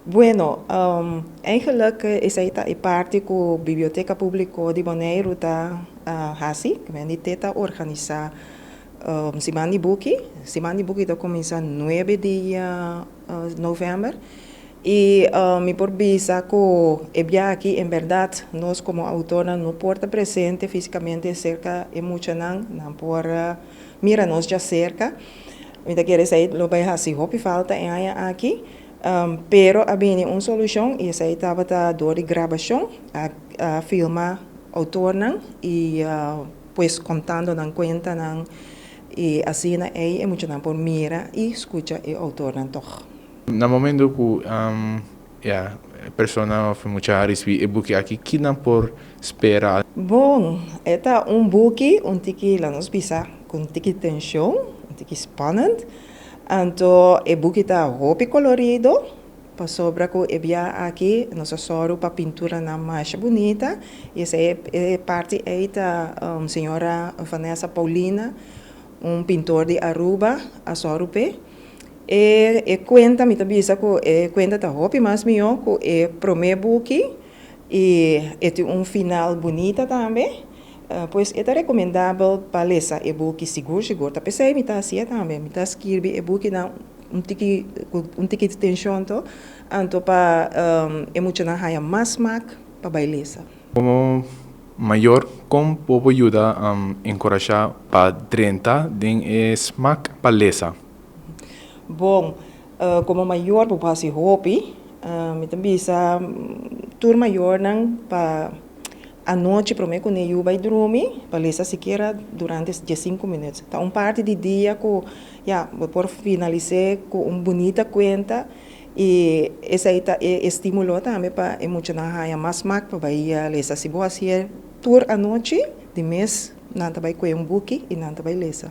Bueno, eigenlik esei ta e parti ku Biblioteka Públiko di Boneiru ta hasi. Di te ta organisá Siman di Buki. Siman di Buki ta kuminsá nuebe di novèmber. I mi por bisa ku e biaha aki en bèrdat nos komo outornan no por ta presente físikamente serka e muchanan. Nan por mira nos djaserka. Mi ta kere esei lo bai hasi hopi falta e aña aki. Pero a bini un solushon i esei tabata dor di grabashon, a filma outornan i pues kontando nan kuentanan i asina ei e muchanan por mira i skucha e outornan tòg. Na momentu ku e persona òf e mucha a risibí e buki aki, ki nan por spera? Bon, e ta un buki un tiki, la nos bisa, ku un tiki tenshon, un tiki spannend. Anto e buki ta hopi colorido pasobra cu e bia aki nos a soro pa pinturanan masha bunita y esey e parti ey ta Señora Vanessa Paulina un pintor di Aruba a soro p'e. E e cuenta mi ta bisa cu e cuenta ta hopi mas miyo cu e prome buki. I e tin un final bunita tambe. Pues e ta rekomendabel pa lesa e buki sigur sigur. Ta p'esei mi ta hasié tambe. Mi ta skirbi e bukinan un tiki ku un tiki di tenshon to, anto pa e muchanan haña mas smak pa bai lesa. Komo mayor, kon bo por yuda enkurashá pa drenta den e smak pa lesa? Bon, Komo mayor bo por hasi hopi. Mi ta bisa tur mayornan pa anochi prome kune yu bai drumi pa lesa sikiera durante dies sinku minut. Ta un parti di dia ku ya bo por finalis'é ku un bunita kuenta i esei ta e estimulo tambe pa e muchanan haña mas smak pa bai lesa. Si bo hasié tur anochi di mes nan ta bai kue un buki i nan ta bai lesa.